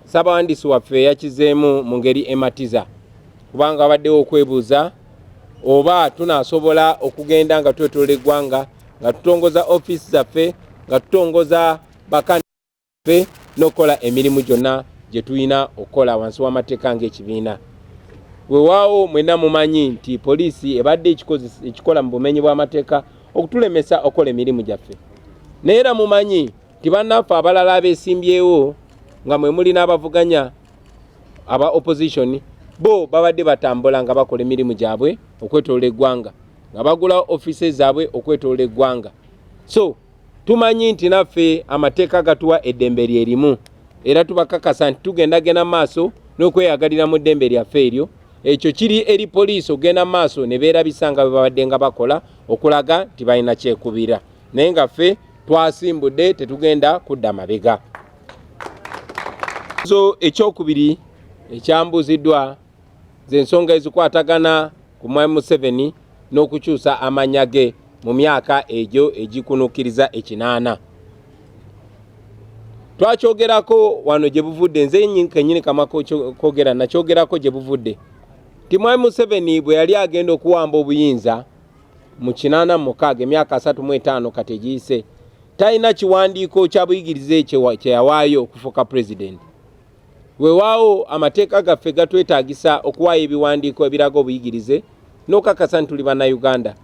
ssabawandiisi waffe yakizeemu mu ngeri ematiza kubanga abaddewo okwebuuza oba tunasobola okugenda nga twetolola eggwanga nga tutongoza ofiisi zaffe nga tutongoza bakani ffe n'okukola emirimu gyonna gye tulina okukola wansi w'amateeka ng'ekibiina. Wewaawo mwena mumanyi nti poliisi ebadde ekikola mu bumenyi bw'amateeka okutulemesa okukola emirimu gyaffe. Naye era mumanyi nti bannaffe abalala abeesimbyewo nga mwe muli n'abavuganya aba opposition bo babadde batambula nga bakola emirimu gyabwe okwetolola eggwanga nga bagulawo offices zaabwe okwetolola eggwanga so Tumanyi nti naffe amateeka gatuwa eddembe lye limu era tubakakasa nti tugenda genda maaso n'okweyagalira mu ddembe lyaffe eryo. Ekyo kiri eri poliisi okugenda maaso ne beerabisa nga bwe babadde nga bakola okulaga nti balina kyekubira, naye nga ffe twasimbudde tetugenda kudda mabega. So ekyokubiri ekyambuuziddwa z'ensonga ezikwatagana ku Mwami Museveni n'okukyusa amannya ge mu myaka egyo egikunukkiriza ekinaana. Twakyogerako wano gye buvudde, nze kennyini kama kwogera nakyogerako gye buvudde nti Mwami Museveni bwe yali agenda okuwamba obuyinza mu kinaana mu mukaaga emyaka asatu mu etaano kati egiyise talina kiwandiiko kya buyigirize kye yawaayo okufuuka pulezidenti. Wewaawo amateeka gaffe gatwetaagisa okuwaayo ebiwandiiko ebiraga obuyigirize n'okakasa nti tuli bannayuganda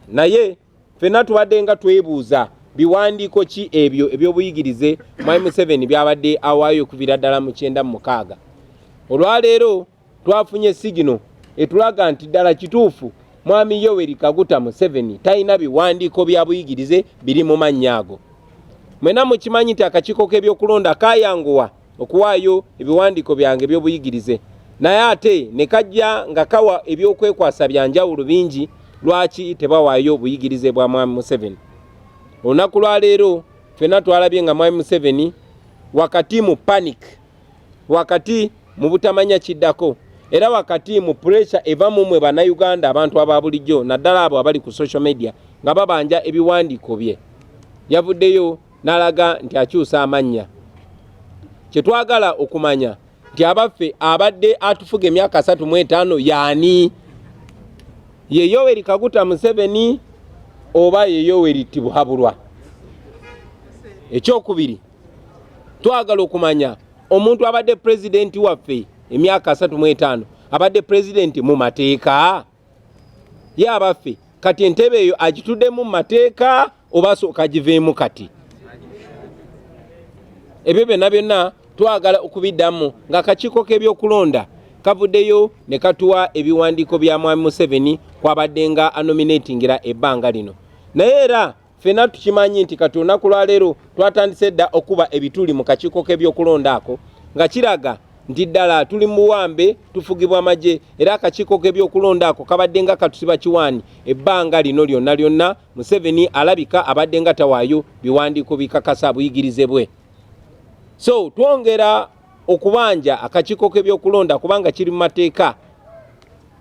naye fenna tubadde nga twebuuza biwandiiko ki ebyo eby'obuyigirize mwami museveni byabadde awaayo okuvira ddala mu kyenda mu mukaaga olwaleero twafunye sigino etulaga nti ddala kituufu mwami yoweri kaguta museveni talina biwandiiko bya buyigirize biri mu mannya ago mwena mukimanyi nti akakiiko k'ebyokulonda kayanguwa okuwaayo ebiwandiiko byange ebyobuyigirize naye ate ne kajja nga kawa ebyokwekwasa bya njawulo bingi lwaki tebawaayo obuyigirize bwa mwami museveni olunaku lwaleero fenna twalabye nga mwami museveni wakati mu panic wakati mu butamanya kiddako era wakati mu puresha eva mu mwe bannayuganda abantu aba bulijjo naddala abo abali ku social media nga babanja ebiwandiiko bye yavuddeyo n'alaga nti akyusa amannya kye twagala okumanya nti abaffe abadde atufuga emyaka asatu mu etaano yaani ye yoweri kaguta museveni oba ye yoweri tibuhaburwa ekyokubiri twagala okumanya omuntu abadde pulezidenti waffe emyaka asatu mu etaano abadde pulezidenti mu mateeka ye abaffe kati entebe eyo agituddemu mu mateeka oba asooka agiveemu kati ebyo byonna byonna twagala okubiddamu nga akakiiko k'ebyokulonda kavuddeyo ne katuwa ebiwandiiko bya mwami museveni kwabadde nga anominetingira ebbanga lino naye era Fena tukimanyi nti kati olunaku lwaleero twatandise dda okuba ebituli mu kakiiko k'ebyokulonda ako nga kiraga nti ddala tuli muwambe tufugibwa amagye era akakiiko k'ebyokulonda ako kabadde nga katusiba kiwaani ebbanga lino lyonna lyonna museveni alabika abadde nga tawaayo biwandiiko bikakasa buyigirize bwe so twongera okubanja akakiiko k'ebyokulonda kubanga kiri mu mateeka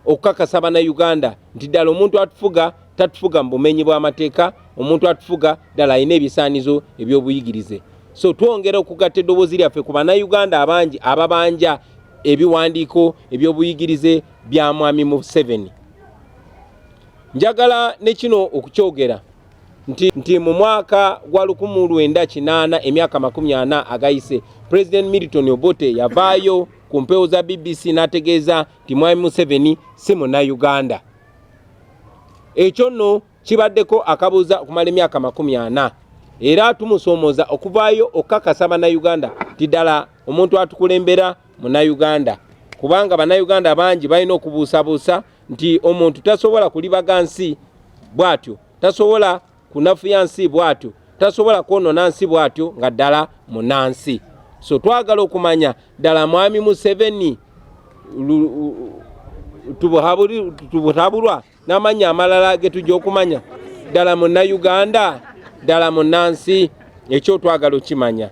okukakasa bannayuganda nti ddala omuntu atufuga tatufuga mu bumenyi bw'amateeka omuntu atufuga ddala alina ebisaanizo eby'obuyigirize so twongera okugatta eddoboozi lyaffe ku bannayuganda abangi ababanja ebiwandiiko eby'obuyigirize bya mwami museveni njagala ne kino okukyogera nti, nti mu mwaka gwa lukumu lwenda kinaana emyaka makumi ana agayise President Milton Obote yavaayo ku mpewo za BBC n'ategeeza nti Mwami Museveni si Munnayuganda. Ekyo nno kibaddeko akabuuza okumala emyaka makumi ana era tumusoomoza okuvaayo okukakasa Bannayuganda nti ddala omuntu atukulembera Munnayuganda kubanga Bannayuganda bangi balina okubuusabuusa nti omuntu tasobola kulibaga nsi bw'atyo tasobola kunafuya nsi bw'atyo tasobola kwonona nsi bw'atyo nga ddala munansi so twagala okumanya ddala mwami museveni tubutabulwa n'amanya amalala ge tujja okumanya ddala munnayuganda ddala munnansi ekyo twagala okimanya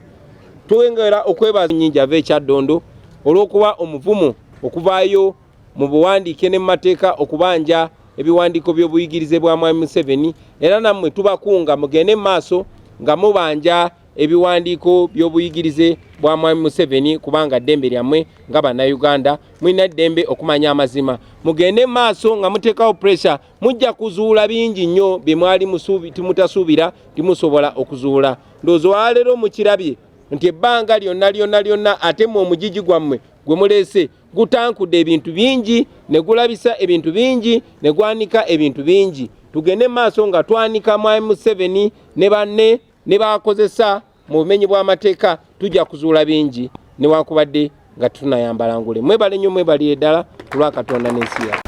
twengera okwebaza nyingi ava ekyaddondo olw'okuba omuvumu okuvaayo mu buwandiike ne mu mateeka okubanja ebiwandiiko by'obuyigirize bwa mwami Museveni era nammwe tubakunga mugende mu maaso nga mubanja ebiwandiiko by'obuyigirize bwa mwami Museveni kubanga ddembe lyammwe nga bannayuganda mulina ddembe okumanya amazima mugende mu maaso nga muteekawo puresha mujja kuzuula bingi nnyo bye mwali timutasuubira timusobola okuzuula ndowooza waleero mukirabye nti ebbanga lyonna lyonna lyonna ate mu omugigi gwammwe gwe muleese gutankudde ebintu bingi ne gulabisa ebintu bingi ne gwanika ebintu bingi tugende mu maaso nga twanika mwami museveni ne banne ne bakozesa mu bumenyi bw'amateeka tujja kuzuula bingi newankubadde nga tunayambala ngule mwebale nnyo mwebali eddala ku lwa katonda n'ensi yaffe